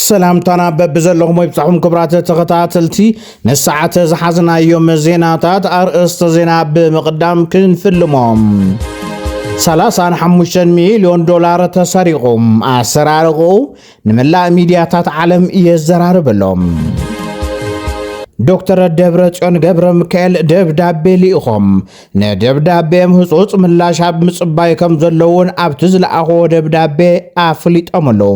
ሰላምታና በብዘለኹም ወይብፃኹም ክብራት ተኸታተልቲ ንሰዓተ ዝሓዝናዮም ዜናታት ኣርእስተ ዜና ብምቕዳም ክንፍልሞም 35 ሚልዮን ዶላር ተሰሪቑም ኣሰራርቑኡ ንመላእ ሚድያታት ዓለም የዘራርበሎም ዶክተር ደብረ ጽዮን ገብረ ሚካኤል ደብዳቤ ልኢኾም ንደብዳቤኦም ህጹጽ ምላሽ ኣብ ምጽባይ ከም ዘለውን ኣብቲ ዝለኣኽዎ ደብዳቤ ኣፍሊጦም ኣለዉ።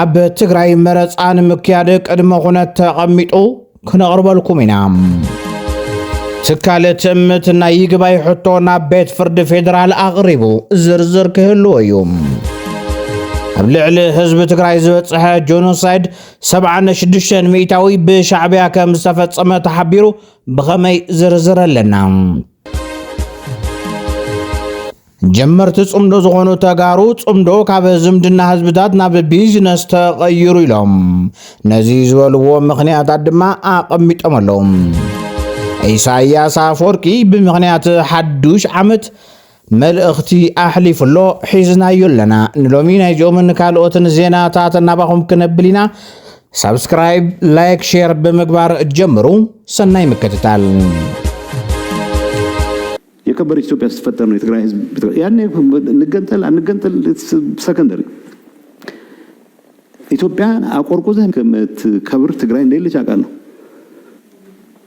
ኣብ ትግራይ መረፃ ንምክያድ ቅድመ ኩነት ተቐሚጡ ክነቕርበልኩም ኢና። ትካል ትእምት ናይ ይግባይ ሕቶ ናብ ቤት ፍርዲ ፌዴራል ኣቕሪቡ ዝርዝር ክህልዎ እዩ። ኣብ ልዕሊ ህዝቢ ትግራይ ዝበፅሐ ጆኖሳይድ 76 ሚእታዊ ብሻዕቢያ ከም ዝተፈፀመ ተሓቢሩ ብኸመይ ዝርዝር ኣለና። ጀመርቲ ጽምዶ ዝኾኑ ተጋሩ ጽምዶ ካብ ዝምድና ህዝብታት ናብ ቢዝነስ ተቐይሩ ኢሎም ነዚ ዝበልዎ ምኽንያታት ድማ ኣቐሚጦም ኣለዉ ኢሳያስ ኣፈወርቂ ብምኽንያት ሓዱሽ ዓመት መልእኽቲ ኣሕሊፉ ኣሎ፣ ሒዝናዮ ኣለና። ንሎሚ ናይዚኦምን ካልኦትን ዜናታት ናባኹም ክነብል ኢና። ሳብስክራይብ፣ ላይክ፣ ሼር ብምግባር ጀምሩ። ሰናይ ምክትታል። የከበረች ኢትዮጵያ ስትፈጠር ነው የትግራይ ህዝብ ያኔ እንገንጠል አንገንጠል ሰከንደሪ ኢትዮጵያ አቆርቁዘህ ከምትከብር ትግራይ እንደሌለች አውቃለሁ።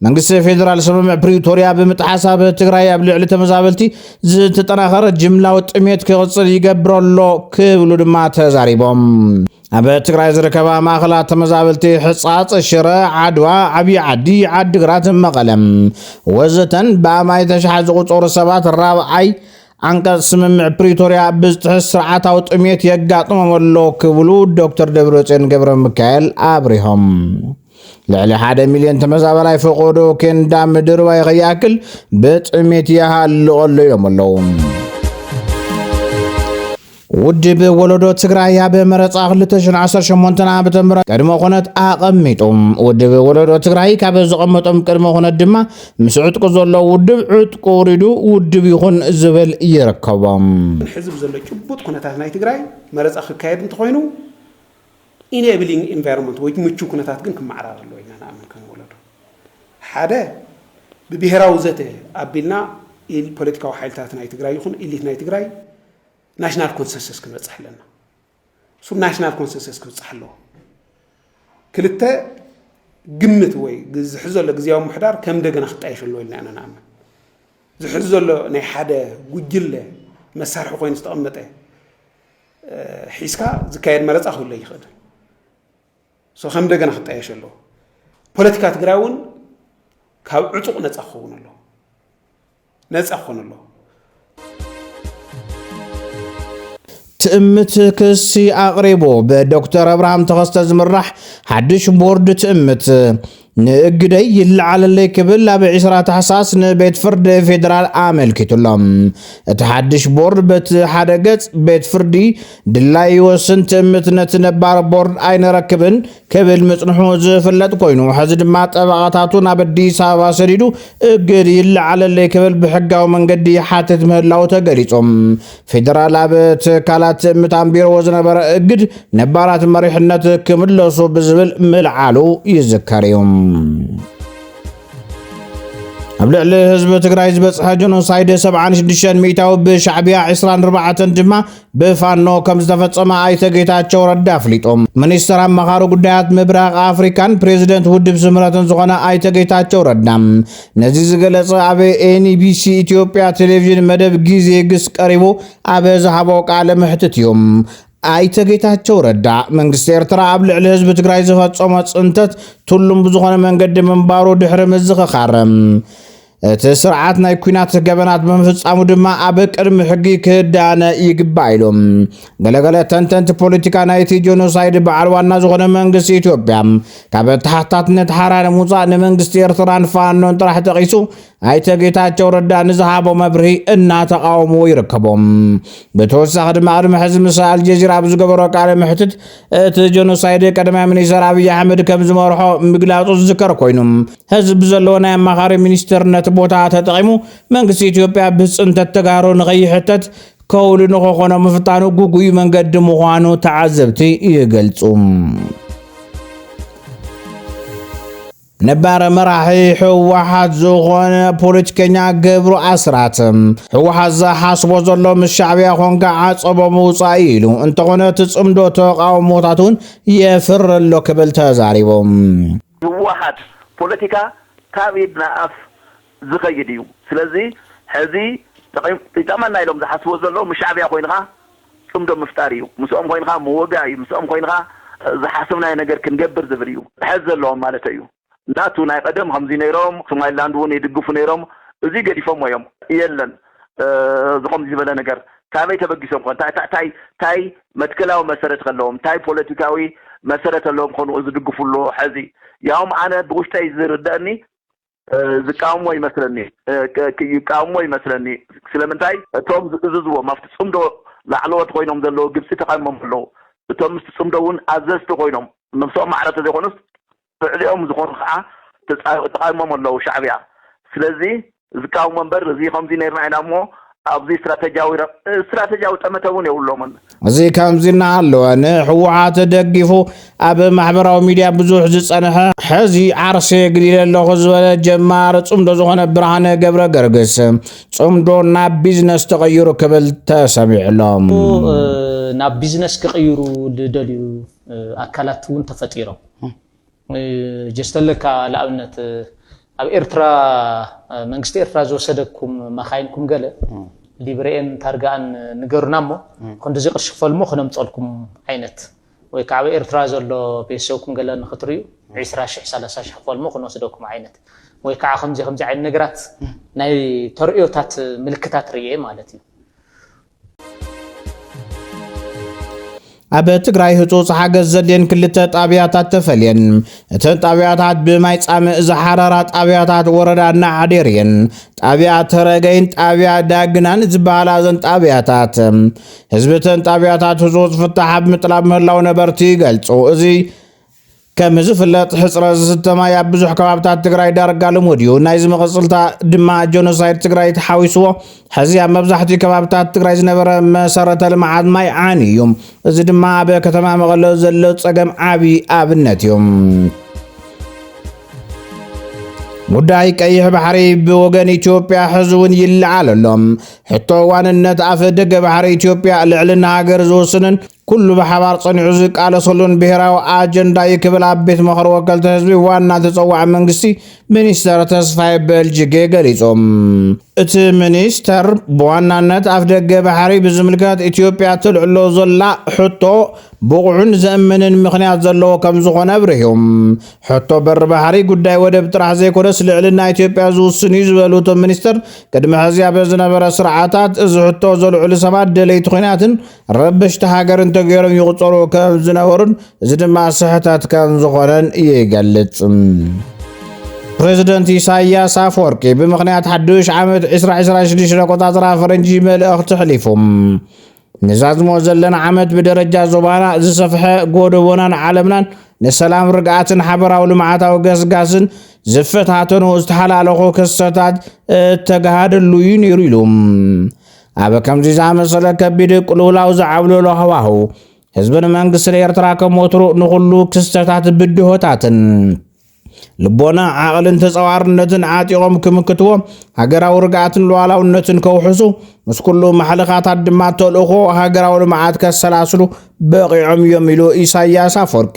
መንግስቲ ፌደራል ስምምዕ ፕሪቶርያ ብምጥሓስ ኣብ ትግራይ ኣብ ልዕሊ ተመዛበልቲ ዝተጠናኸረ ጅምላዊ ጥሜት ክቕፅል ይገብሮ ኣሎ ክብሉ ድማ ተዛሪቦም። ኣብ ትግራይ ዝርከባ ማእኸላት ተመዛበልቲ ሕፃፅ፣ ሽረ፣ ዓድዋ፣ ዓብዪ ዓዲ፣ ዓዲግራት፣ መቐለም ወዘተን ብኣማኢተ ኣሽሓት ዝቑፀሩ ሰባት ራብዓይ ዓንቀፅ ስምምዕ ፕሪቶርያ ብዝጥሕስ ስርዓታዊ ጥሜት የጋጥሞም ኣሎ ክብሉ ዶክተር ደብረፅዮን ገብረ ሚካኤል ኣብሪሆም። ልዕሊ ሓደ ሚልዮን ተመዛበላይ ፈቆዶ ኬንዳ ምድርባይ ከይኣክል ብጥሜት ይሃልቕ ኣሎ ኢሎም ኣለዉ። ውድብ ወለዶ ትግራይ ኣብ መረፃ 2018 ዓ ም ቅድመ ኩነት ኣቐሚጡ ውድብ ወለዶ ትግራይ ካብ ዘቐመጦም ቅድመ ኩነት ድማ ምስ ዕጥቁ ዘሎ ውድብ ዕጥቁ ውሪዱ ውድብ ይኹን ዝብል ይርከቦም ሕዚ ብዘሎ ጭቡጥ ኩነታት ናይ ትግራይ መረፃ ክካየድ እንተኾይኑ ኢኔብሊንግ ኢንቫይሮመንት ወይ ምቹው ኩነታት ግን ክመዓራረ ኣለዎ ኢልና ንኣምን ከም ወለዶ። ሓደ ብብሄራዊ ዘተ ኣቢልና ኢል ፖለቲካዊ ሓይልታት ናይ ትግራይ ይኹን ኢሊት ናይ ትግራይ ናሽናል ኮንሰንሰስ ክንበፅሕ ኣለና። እሱ ናሽናል ኮንሰንሰስ ክብፅሕ ኣለዎ። ክልተ ግምት ወይ ዝሕዝ ዘሎ ግዜያዊ ምሕዳር ከም እንደገና ክጣየሽ ኣለዎ ኢልና ኢና ንኣምን። ዝሕዝ ዘሎ ናይ ሓደ ጉጅለ መሳርሒ ኮይኑ ዝተቐመጠ ሒዝካ ዝካየድ መረፃ ክህሉ ኣይኽእልን ሶ ከም እንደገና ክጣየሽ ኣለዎ ፖለቲካ ትግራይ እውን ካብ ዕጡቕ ነፃ ክኸውን ኣለዎ ነፃ ክኾን ኣለዎ ትእምት ክሲ ኣቕሪቡ ብዶክተር ኣብርሃም ተኸስተ ዝምራሕ ሓድሽ ቦርድ ትእምት ንእግደይ ይለዓለለይ ክብል ኣብ ዕስራ ታሕሳስ ንቤት ፍርዲ ፌዴራል ኣመልኪቱ ኣሎ። እቲ ሓድሽ ቦርድ በቲ ሓደ ገጽ ቤት ፍርዲ ድላይ ይወስን ትእምት ነቲ ነባር ቦርድ ኣይንረክብን ክብል ምጽንሑ ዝፍለጥ ኮይኑ ሕዚ ድማ ጠበቓታቱ ናብ ኣዲስ ኣበባ ሰዲዱ እግድ ይለዓለለይ ክብል ብሕጋዊ መንገዲ ይሓትት ምህላው ተገሊጹ። ፌደራል ኣብ ትካላት ምታንቢርዎ ዝነበረ እግድ ነባራት መሪሕነት ክምለሱ ብዝብል ምልዓሉ ይዝከር እዩ። ኣብ ልዕሊ ህዝቢ ትግራይ ዝበፅሐ ጀኖሳይድ 76 ሚእታዊ ብሻዕቢያ 24 ድማ ብፋኖ ከም ዝተፈፀመ ኣይተ ጌታቸው ረዳ ኣፍሊጦም። ሚኒስትር ኣማኻሪ ጉዳያት ምብራቕ ኣፍሪካን ፕሬዚደንት ውድብ ስምረትን ዝኾነ ኣይተ ጌታቸው ረዳ ነዚ ዝገለጸ ኣብ ኤንቢሲ ኢትዮጵያ ቴሌቪዥን መደብ ግዜ ግስ ቀሪቡ ኣብ ዝሃቦ ቃለ መሕትት እዩ። ኣይተ ጌታቸው ረዳ መንግስቲ ኤርትራ ኣብ ልዕሊ ህዝቢ ትግራይ ዝፈጸሞ ጽንተት ትሉም ብዝኾነ መንገዲ ምንባሩ ድሕሪ ምዝኽኻር እቲ ስርዓት ናይ ኩናት ገበናት ብምፍጻሙ ድማ ኣብ ቅድሚ ሕጊ ክዳነ ይግባእ ኢሉ። ገለገለ ተንተንቲ ፖለቲካ ናይቲ ጆኖሳይድ በዓል ዋና ዝኾነ መንግስቲ ኢትዮጵያ ካብ ተሓታትነት ሓራ ንምውፃእ ንመንግስቲ ኤርትራን ፋኖን ጥራሕ ጠቒሱ ኣይተ ጌታቸው ረዳ ንዝሃቦ መብርሂ እናተቃወምዎ ይርከቦም። ብተወሳኺ ድማ ቅድሚ ሕዚ ምስ ኣልጀዚራ ኣብ ዝገበሮ ቃለ መሕትት እቲ ጀኖሳይድ ቀዳማይ ሚኒስተር ኣብይ ኣሕመድ ከም ዝመርሖ ምግላፁ ዝዝከር ኮይኑ ህዝቢ ብዘለዎ ናይ ኣማኻሪ ሚኒስትርነት ቦታ ተጠቒሙ መንግስቲ ኢትዮጵያ ብፅንተት ተጋሩ ንኸይሕተት ከውሊ ንኸኾኖ ምፍታኑ ግጉይ መንገዲ ምዃኑ ተዓዘብቲ ይገልጹ። ነባር መራሒ ህወሓት ዝኾነ ፖለቲከኛ ገብሩ ኣስራት ህወሓት ዝሓስቦ ዘሎ ምስ ሻዕብያ ኮንካ ዓፀቦ ምውፃእ ኢሉ እንተኾነ እቲ ፅምዶ ተቃውሞታት እውን የፍር ኣሎ ክብል ተዛሪቦም ህወሓት ፖለቲካ ካብ ኢድ ንኣፍ ዝኸይድ እዩ ስለዚ ሐዚ ይጠቕመና ኢሎም ዝሓስብዎ ዘለዉ ምስ ሻዕብያ ኮይንኻ ፅምዶ ምፍጣር እዩ ምስኦም ኮይንኻ ምውጋእ እዩ ምስኦም ኮይንኻ ዝሓሰብናዮ ነገር ክንገብር ዝብል እዩ ሐዚ ዘለዎም ማለተይ እዩ ናቱ ናይ ቐደም ኸምዚ ነይሮም ሶማሊላንድ እውን ይድግፉ ነይሮም እዙይ ገዲፎሞ እዮም የለን ዝኸምዚ ዝበለ ነገር ካበይ ተበጊሶም ኾን ታይ ታይ ታይ መትከላዊ መሰረት ኸለዎም ታይ ፖለቲካዊ መሰረት ኣለዎም ኾኑ ዝድግፉሉ ሐዚ ያውም ኣነ ብውሽጠይ ዝርደእኒ ዝቃወምዎ ይመስለኒ ይቃወምዎ ይመስለኒ ስለምንታይ እቶም ዝእዝዝዎም ኣብቲ ጽምዶ ላዕለዎት ኮይኖም ዘለዉ ግብጺ ተቃይሞም ኣለዉ እቶም ምስቲ ጽምዶ እውን ኣዘዝቲ ኮይኖም ነብሶም ማዕረ ተዘይኮኑስ ልዕሊኦም ዝኾኑ ከኣ ተጻ ተቃይሞም ኣለዉ ሻዕብያ ስለዚ ዝቃወሞ እምበር እዚ ከምዚ ኔርና ኢና እሞ ኣብዚ ስትራተጂያዊ ረብ ስትራተጂያዊ ጠመተ እውን የብሎምን። እዚ ከምዚ እናሃለወ ንሕወሓት ደጊፉ ኣብ ማሕበራዊ ሚድያ ብዙሕ ዝፀንሐ ሕዚ ዓርሰ የግሊለ ኣለኹ ዝበለ ጀማሪ ፅምዶ ዝኾነ ብርሃነ ገብረ ገርግስ ፅምዶ ናብ ቢዝነስ ተቐይሩ ክብል ተሰሚዑ ኣሎ። ናብ ቢዝነስ ክቕይሩ ዝደልዩ ኣካላት እውን ተፈጢሮም። ጀስተለካ ልኣብነት ኣብ ኤርትራ መንግስቲ ኤርትራ ዝወሰደኩም መኻይንኩም ገለ ሊብሬኤን ታርጋኣን ንገሩና እሞ ክንዲዚ ቅርሺ ክፈሉ እሞ ክነምጸልኩም ዓይነት ወይ ከዓ ኣብ ኤርትራ ዘሎ ቤተሰብኩም ገለ ንክትርእዩ ዒስራ ሽሕ ሰላሳ ሽሕ ክፈሉ እሞ ክንወስደኩም ዓይነት ወይ ከዓ ከምዚ ከምዚ ዓይነት ነገራት ናይ ተርእዮታት ምልክታት ርእየ ማለት እዩ ኣብ ትግራይ ህፁፅ ሓገዝ ዘድልየን ክልተ ጣብያታት ተፈልየን እተን ጣብያታት ብማይ ፃምእ ዝሓረራ ጣብያታት ወረዳ ናዓዴር እየን ጣብያ ተረገይን ጣብያ ዳግናን ዝበሃላ እዘን ጣብያታት ህዝቢ እተን ጣብያታት ህፁፅ ፍታሕ ኣብ ምጥላብ ምህላው ነበርቲ ይገልፁ እዚ ከም ዝፍለጥ ሕፅረት ዝስተ ማይ ኣብ ብዙሕ ከባብታት ትግራይ ዳርጋ ልሙድ እዩ። ናይዚ መቐፅልታ ድማ ጆኖሳይድ ትግራይ ተሓዊስዎ ሕዚ ኣብ መብዛሕትኡ ከባብታት ትግራይ ዝነበረ መሰረተ ልምዓት ማይ ዓንዩ እዩ። እዚ ድማ ኣብ ከተማ መቐለ ዘሎ ፀገም ዓብዪ ኣብነት እዩ። ጉዳይ ቀይሕ ባሕሪ ብወገን ኢትዮጵያ ሕዚ እውን ይለዓል ኣሎ። ሕቶ ዋንነት ኣፍ ደገ ባሕሪ ኢትዮጵያ ልዕልና ሃገር ዝውስንን ኩሉ ብሓባር ጸኒዑ ዝቃለሰሉን ብሄራዊ ኣጀንዳ እዩ ክብል ኣብ ቤት ምኽሪ ወከልቲ ህዝቢ ዋና ተጸዋዒ መንግስቲ ሚኒስተር ተስፋይ በልጅጌ ገሊጹ። እቲ ሚኒስተር ብዋናነት ኣፍደገ ባሕሪ ብዝምልከት ኢትዮጵያ ተልዕሎ ዘላ ሕቶ ብቑዕን ዘእምንን ምኽንያት ዘለዎ ከም ዝኾነ ኣብሪሁ። ሕቶ በሪ ባሕሪ ጉዳይ ወደብ ጥራሕ ዘይኮነስ ልዕልና ኢትዮጵያ ዝውስን እዩ ዝበሉ እቶም ሚኒስተር ቅድሚ ሕዚ ኣብ ዝነበረ ስርዓታት እዚ ሕቶ ዘልዕሉ ሰባት ደለይቲ ኹናትን ረበሽቲ ሃገር እንተገይሮም ይቑፀሩ ከም ዝነበሩን እዚ ድማ ስሕተት ከም ዝኾነን ይገልፅ። ፕሬዚደንት ኢሳያስ ኣፈወርቂ ብምኽንያት ሓዱሽ ዓመት 2026 ኣቆፃፅራ ፈረንጂ መልእኽቲ ሕሊፉ ንዛዝሞ ዘለና ዓመት ብደረጃ ዞባና ዝሰፍሐ ጎደቦናን ዓለምናን ንሰላም ርግኣትን ሓበራዊ ልምዓታዊ ገስጋስን ዝፈታተኑ ዝተሓላለኹ ክስተታት እተጋሃደሉ እዩ ነይሩ ኢሉ ኣብ ከምዚ ዝኣመሰለ ከቢድ ቅልውላው ዝዓብለሎ ሃዋህው ህዝብን መንግስትን ኤርትራ ከም ወትሩ ንኹሉ ክስተታት ብድሆታትን ልቦና ዓቕልን ተጸዋርነትን ዓጢቖም ክምክትዎ ሃገራዊ ርግኣትን ሉዓላውነትን ከውሕሱ ምስ ኩሉ ማሕልኻታት ድማ ተልእኾ ሃገራዊ ልምዓት ከሰላስሉ በቒዖም እዮም ኢሉ ኢሳያስ ኣፈወርቂ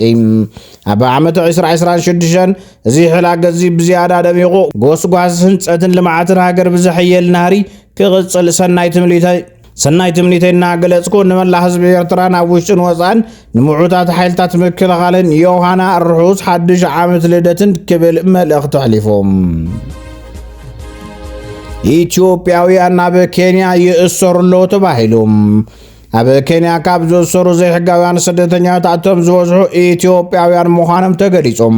ኣብ ዓመት 2026 እዚ ሕላገዚ ብዝያዳ ደሚቑ ጎስጓስ ህንፀትን ልምዓትን ሃገር ብዘሕየል ናህሪ ክቕጽል ሰናይ ትምኒተይ ሰናይ ትምኒተይ እናገለጽኩ ንመላእ ህዝቢ ኤርትራን ኣብ ውሽጥን ወፃእን ንምዑታት ሓይልታት ምክልኻልን ዮሃና ርሑስ ሓድሽ ዓመት ልደትን ክብል መልእኽቲ ኣሕሊፉ ኢትዮጵያውያን ናብ ኬንያ ይእሰሩ ኣለዉ ተባሂሉ ኣብ ኬንያ ካብ ዝእሰሩ ዘይሕጋውያን ስደተኛታት ኣቶም ዝበዝሑ ኢትዮጵያውያን ምዃኖም ተገሊጾም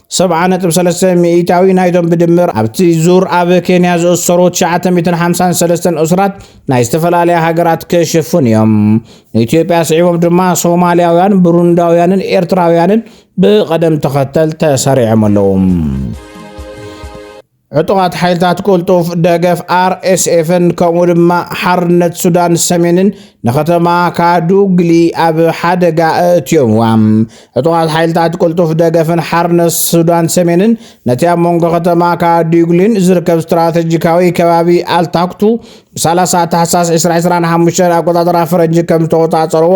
ሰብዓ ነጥቢ ሰለስተ ሚኢታዊ ናይዞም ብድምር ኣብቲ ዙር ኣብ ኬንያ ዝእሰሩ ትሽዓተ ሚእትን ሓምሳን ሰለስተን እሱራት ናይ ዝተፈላለያ ሃገራት ክሽፍኑ እዮም። ንኢትዮጵያ ስዒቦም ድማ ሶማልያውያን፣ ብሩንዳውያንን ኤርትራውያንን ብቐደም ተኸተል ተሰሪዖም ኣለዉ። ዕጡቓት ሓይልታት ቅልጡፍ ደገፍ ኣርኤስኤፍን ከምኡ ድማ ሓርነት ሱዳን ሰሜንን ንከተማ ካዱግሊ ኣብ ሓደጋ ኣእትዮምዋ። ዕጡቓት ሓይልታት ቅልጡፍ ደገፍን ሓርነት ሱዳን ሰሜንን ነቲ ኣብ መንጎ ከተማ ካዱግሊን ዝርከብ ስትራተጂካዊ ከባቢ ኣልታክቱ ብ30 ታሕሳስ 2025 ኣቆጣጠራ ፈረንጂ ከም ዝተቆጻጸርዎ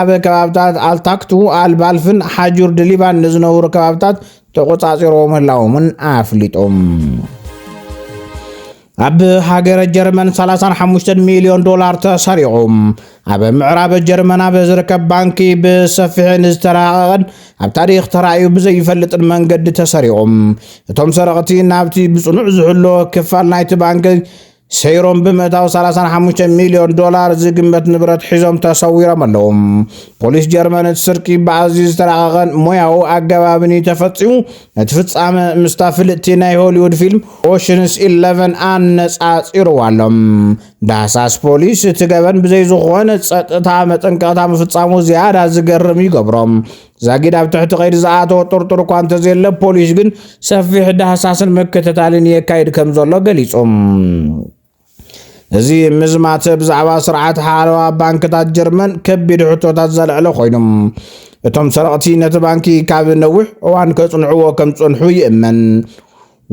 ኣብ ከባብታት ኣልታክቱ፣ ኣልባልፍን ሓጁር ድሊባን ንዝነብሩ ከባብታት ተቖጻጺሮዎ ምህላዎምን ኣፍሊጦም። ኣብ ሃገረ ጀርመን 35 ሚልዮን ዶላር ተሰሪቑ ኣብ ምዕራብ ጀርመን ኣብ ዝርከብ ባንኪ ብሰፊሕን ዝተረሃቐቐን ኣብ ታሪክ ተራእዩ ብዘይፈልጥን መንገዲ ተሰሪቑም እቶም ሰረቕቲ ናብቲ ብጽኑዕ ዝሕሎ ክፋል ናይቲ ባንኪ ሰይሮም ብምእታው 35 ሚልዮን ዶላር ዝግመት ንብረት ሒዞም ተሰዊሮም ኣለዉ። ፖሊስ ጀርመን እቲ ስርቂ ብኣዝዩ ዝተራቐቐን ሞያዊ ኣገባብን እዩ ተፈጺሙ። ነቲ ፍጻመ ምስታ ፍልጥቲ ናይ ሆሊውድ ፊልም ኦሽንስ ኢለቨን ኣነጻጺርዎ ኣሎ። ዳህሳስ ፖሊስ እቲ ገበን ብዘይ ዝኾነ ጸጥታ መጠንቀቕታ ምፍጻሙ ዝያዳ ዝገርም ይገብሮ። ዛጊድ ኣብ ትሕቲ ቀይዲ ዝኣተወ ጥርጡር እኳ እንተዘየለ ፖሊስ ግን ሰፊሕ ዳህሳስን ምክትታልን የካይድ ከም ዘሎ ገሊጹ። እዚ ምዝማት ብዛዕባ ስርዓት ሓለዋ ባንክታት ጀርመን ከቢድ ሕቶታት ዘልዕለ ኮይኑ እቶም ሰረቕቲ ነቲ ባንኪ ካብ ነዊሕ እዋን ከጽንዕዎ ከም ዝጸንሑ ይእመን።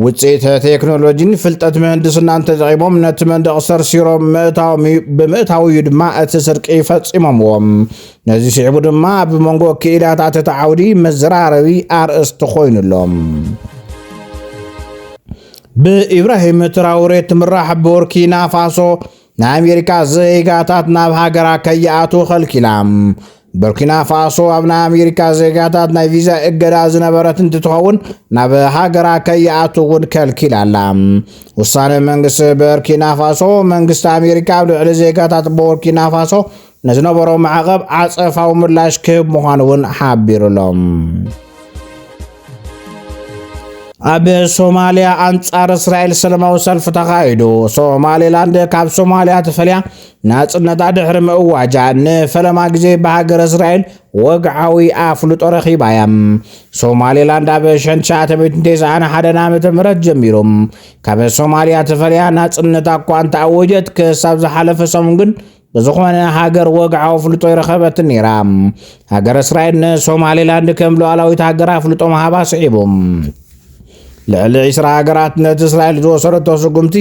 ውፅኢት ቴክኖሎጂን ፍልጠት ምህንድስናን ተጠቒሞም ነቲ መንደቕ ሰርሲሮም ምእታዎም እዩ። ብምእታዉ እዩ ድማ እቲ ስርቂ ፈፂሞምዎ። ነዚ ስዒቡ ድማ ኣብ መንጎ ክኢላታት እቲ ዓውዲ መዘራረቢ ኣርእስቲ ኮይኑ ኣሎ። ብኢብራሂም ትራውሬ ትምራሕ ቡርኪና ፋሶ ንኣሜሪካ ዜጋታት ናብ ሃገራ ከይኣትዉ ከልኪላ። ቡርኪና ፋሶ ኣብ ናይ ኣሜሪካ ዜጋታት ናይ ቪዛ እገዳ ዝነበረት እንትትኸውን ናብ ሃገራ ከይኣትዉ እውን ከልኪላ ኣላ። ውሳነ መንግስቲ ቡርኪና ፋሶ መንግስቲ ኣሜሪካ ኣብ ልዕሊ ዜጋታት ቡርኪና ፋሶ ንዝነበሮ ማዕቐብ ዓፀፋዊ ምላሽ ክህብ ምዃኑ እውን ሓቢሩሎም። ኣብ ሶማልያ ኣንጻር እስራኤል ሰለማዊ ሰልፊ ተኻይዱ ሶማሌላንድ ካብ ሶማልያ ተፈልያ ናጽነታ ድሕሪ ምእዋጃ ንፈለማ ግዜ ብሃገር እስራኤል ወግዓዊ ኣፍልጦ ረኺባ እያ ሶማሌላንድ ኣብ ሸንትሸዓተሚትንቴስዓንሓደን ዓመተ ምህረት ጀሚሩ ካብ ሶማልያ ተፈልያ ናጽነታ እኳ እንተኣወጀት ክሳብ ዝሓለፈ ሰሙን ግን ብዝኾነ ሃገር ወግዓዊ ኣፍልጦ ይረኸበትን ነይራ። ሃገረ እስራኤል ንሶማሌላንድ ከም ሉዓላዊት ሃገር ኣፍልጦ ምሃባ ስዒቡ ልዕሊ ዒስራ ሃገራት ነቲ እስራኤል ዝወሰደቶ ስጉምቲ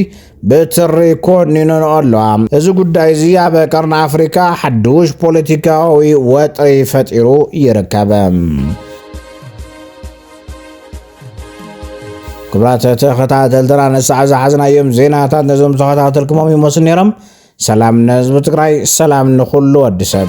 ብትሪ ኮኒነን ኣለዋ እዚ ጉዳይ እዚ ኣብ ቀርኒ ኣፍሪካ ሓዱሽ ፖለቲካዊ ወጥሪ ፈጢሩ ይርከብ ክብራት ተኸታተልትና ንሳዕ ዝሓዝናዮም ዜናታት ነዞም ተኸታተልኩሞም ይመስሉ ነይሮም ሰላም ንህዝቢ ትግራይ ሰላም ንኹሉ ወዲ ሰብ።